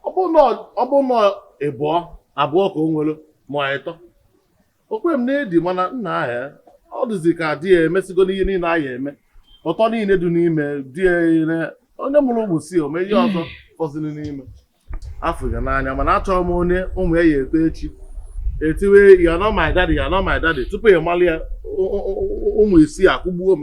ọ bụ na ọ bụ na ịbụọ abụọ ka o nwere ma ịtọ o kwe m na-edi mana nna ihe a ọ dịzi ka di ya emesigo n'ihe niile a ya-eme ụtọ niile dị n'ime di ya ire onye mụrụ ụmụ isii o nwe ihe ọzọ fọziri n'ime afụ ya n'anya mana achọrọ m onye ụmụ ya ya-eto echi etiwe ya nọ my daddy ya nọ my daddy tupu ị malị ya ụ- ụ- ụ- ụmụ isii akụgbuo m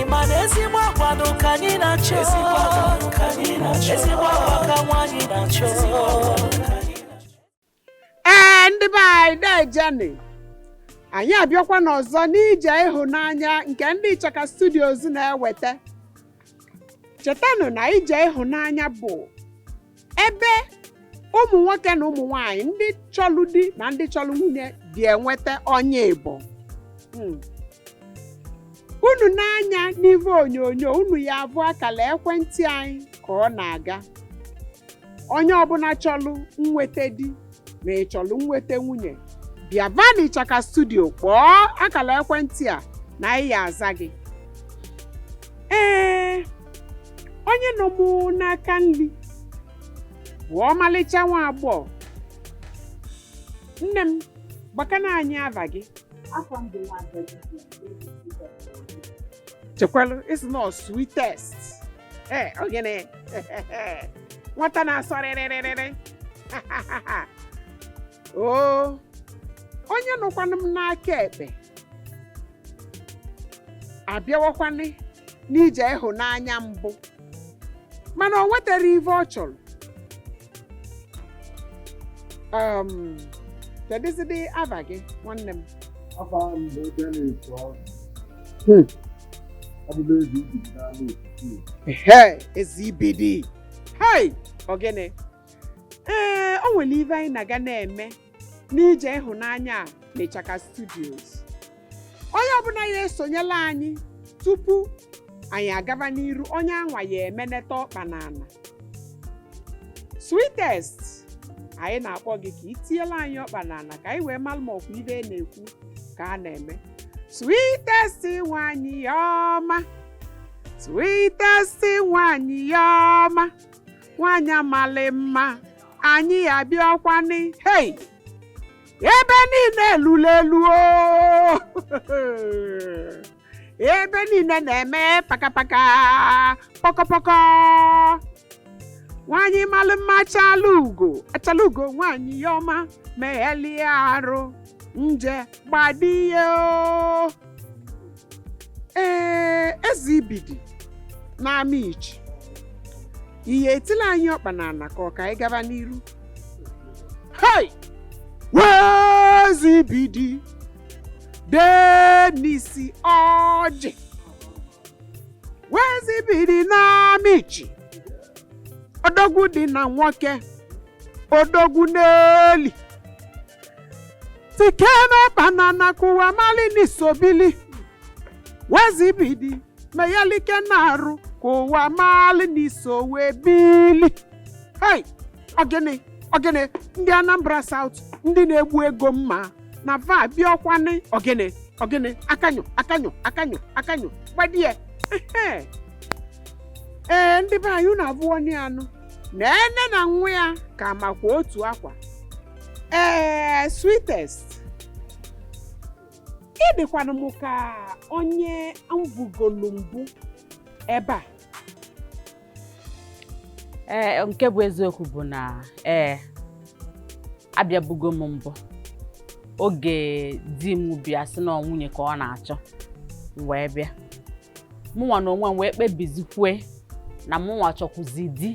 ịma na ezigbo akwado ka anyị na-achọ ezigbo akwado ka anyị na-achọ ezigbo akwa ka nwaanyị na-achọ ezigbo akwado ka anyị ee ndị be anyị dejeni anyị abịakwanị ọzọ n'ije ịhụnanya nke ndị Ichaka Studios na-ewete chetanụ na ije ịhụnanya bụ ebe ụmụ nwoke na ụmụ nwanyị ndị chọlụ di na ndị chọlụ nwunye dị enweta onye ịbọ Mm. unu nee anya n'ive onyonyo unu ya-avụ akala ekwentị anyị ka ọ na-aga onye ọbụna chọlụ nweta di na ị chọlụ nweta nwunye bịava n'Ichaka studio kpọọ akala ekwentị a na anyị ya-aza gị ee onye nọ mụ n'aka nri bụ ọmalịcha nwa agbọghọ nne m gwakana anyị ava gị chekwalụ ị sị na ọ sweetest ee ọ gịnị nwata na-asọ rịrịrịrịrị oo onye nọkwanụ m n'aka ekpe abịawakwanị n'ije ịhụnanya mbụ mana o nwetarọ ive ọ chọrọ um, kedụzidị ava gị nwanne m Afa m bụ Dennis Ọgụ. Hmm. Abụla ezi ibi n'ala Ekiti. ehe ezi ibidi hei ọ gịnị ee o nwere ive anyị na-aga na-eme n'ije ịhụnanya a n'Ichaka Studios. Onye ọbụla ya-esonyela anyị tupu anyị agava n'iru onye anwa ya-emeneta ọkpa n'ana. Sweetest, anyị na-akpọ gị ka ị tiela anyị ọkpa n'ana ka anyị wee malụ ma ọ kwa ive a na-ekwu ka a na-eme. Sweetest nwanyị ọma, sweetest nwanyị ọma, nwaanyị a malị mma anyị abịakwanị hei ebe niile elu elu o ebe niile na-eme pakapaka pọkọpọkọ nwaanyị malụ mma achala ugo achala ugo nwaanyị ya ọma meghalịa arụ nje gbadie o ee eze ibidi n'ama ichi ihe etila anyị ọkpa n'ana ka ọ ka anyị gaba n'iru hei wee eze ibidi dee n'isi ọjị wee eze ibidi n'ama ichi odogwu dị na nwoke odogwu na-eli chicken na banana ka ụwa mali ni so bili wee eze ibidi meyalike na-arụ ka ụwa mali ni sowe bili hei ogene ogene ndị anambra south ndị na-egbu ego mma na va bịakwanụ ogene ogene akanyụ akanyụ akanyụ akanyụ gbadie ehe. ee ndị be anyị unu abụọ ni anụ na ene na nwa ya ka makwa otu akwa ee sweetest ị dịkwanụ m ka onye m vụgolu mbụ ebe a ee nke bụ eziokwu bụ na ee abịabugo m mbụ oge di m bịa sị na ọ nwunye ka ọ na-achọ m wee bịa mụnwa na onwe m wee kpebizikwe na mụnwa chọkwuzi di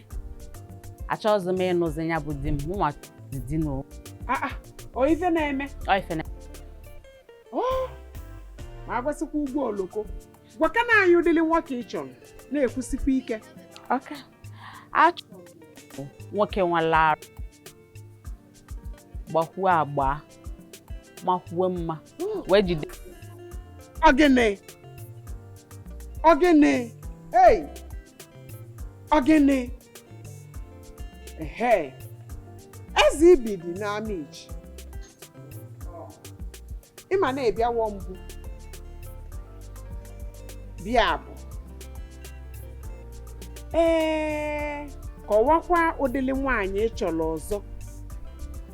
achọghịzi m ịnụzi ya bụ di m mụnwa ezinụlọ ah, ah, ọ ife na-eme ma agwasịkwa ụgbọ oloko gwakana anyị ụdịrị nwoke ị chọrọ na-ekwusikwa ike achọrọ nwoke nwere arụ gbakwuo agba makwuo mma wee jide Ogene. Ogene. Hey. Ogene. Ehe. Eze ibidi n'ama ichi. Ị ma na ị bịawo mbụ. Bịabu. Ee, kọwakwa ụdịrị nwaanyị ị chọrọ ọzọ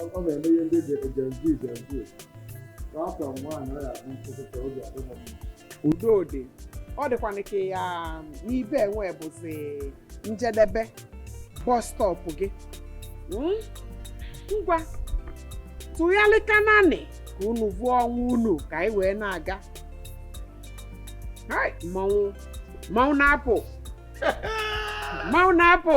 ọ ọ na-eme ihe ndị dị ejenzi ejenzi ka afọ nwaanyị ọ ya bụ nkụkụta oge adịghị mma udo dị ọ dịkwana ka ya n'ibe enwe bụzi njedebe bus stop gị Mm? ngwa tụgharịkananị ka unu vụọ onwe unu ka anyị wee na-aga Hai, mmanwụ mmanwụ na-apụ mmanwụ na-apụ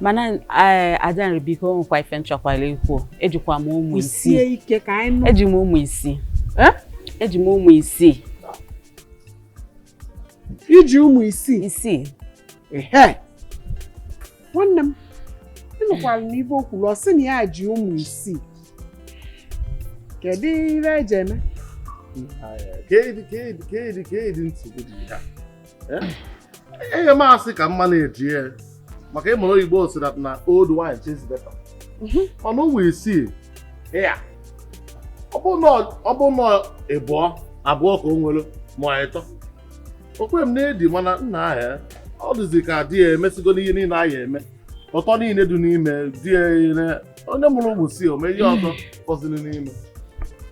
mana eh, adanri biko nwekwa ife m chọkwala ikwu ejikwa m ụmụ isii eji m ụmụ isii eh? eji m ụmụ isii i ji ụmụ isii isii nwanne m ị nụkwara n'ibe o kwuru ọ sị na ya ji ụmụ isii kedu ihe eji eme enye eh? m asị ka mma na-eji ya maka ị mara oyibo sị that na old wine tastes better mhm. mana ụmụ isii ya ọ bụ n'ịbụọ abụọ ka o nwere ma ịtọ o kwe m na-edi mana nna ahịa eh? ọ dịzi ka di ya emesigo n'ihe niile a ya-eme ụtọ niile dị n'ime di ya onye mụrụ ụmụ isii o nwee ihe ọzọ fọziri n'ime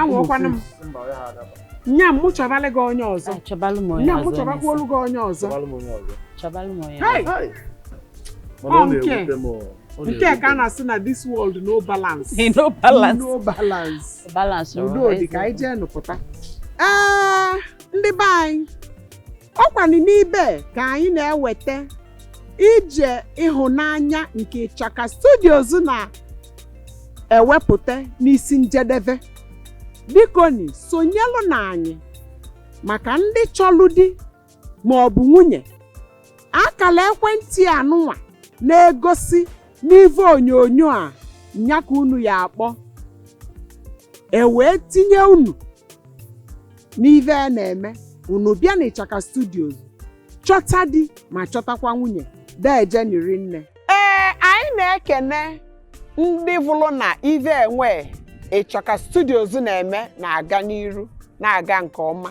anwụọkwana m nya m chọbalụ gị onye ọzọ nya m chọbakwuolu gị onye ọzọ nke ka a na-asị na this world no balance no balance no balance balance udo dị ka anyị jee nụpụta ee ndị be anyị ọ kwanụ n'ibe a ka anyị na-eweta ije ịhụnanya nke ịchaka studios na-ewepụta n'isi njedebe bikoni sonyelụnụ anyị maka ndị chọlụ di ma ọ bụ nwunye akala ekwentị anụnwa na-egosi n'ive onyonyo a nya ka unu ya-akpọ e wee tinye unu n'ive a na-eme unu bịa n'ịchaka studios chọta di ma chọtakwa nwunye dejeni rinne ee anyị na-ekene ndị vụlụ na ive enwe ịchaka studios na-eme na-aga n'iru na-aga nke ọma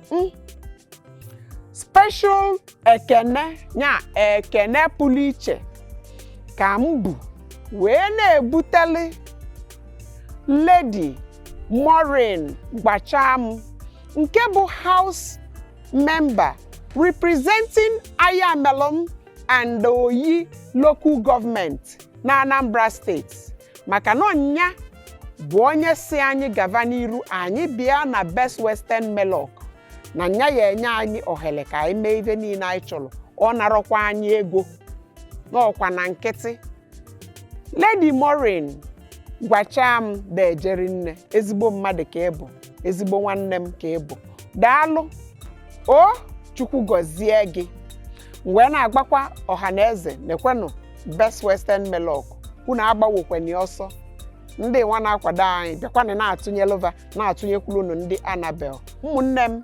hmm. special ekene ya ekene pụlụ iche ka m bu wee na-ebutelụ Lady Maureen Gwacham nke bụ house member representing Ayamelum and Oyi local government na Anambra State maka na ọ nya bụ onye si anyị gava n'iru anyị bịa na Best Western Meloch na nya ya-enye anyị ohele ka anyị mee ive niine anyị chọlọ ọ narọkwa anyị ego na ọ kwa na nkịtị Lady Maureen Gwacham deje rinne ezigbo mmadụ ka ị bụ ezigbo nwanne m ka ị bụ daalụ o chukwu gọzie gị wee na-agwakwa ọha na eze nekwenụ Best Western Meloch unu agbawokwenye ọsọ ndị nwa na-akwado anyị bịakwanụ na-atụnyelụ va na-atụnyekwuru unu ndị anabel ụmụnne m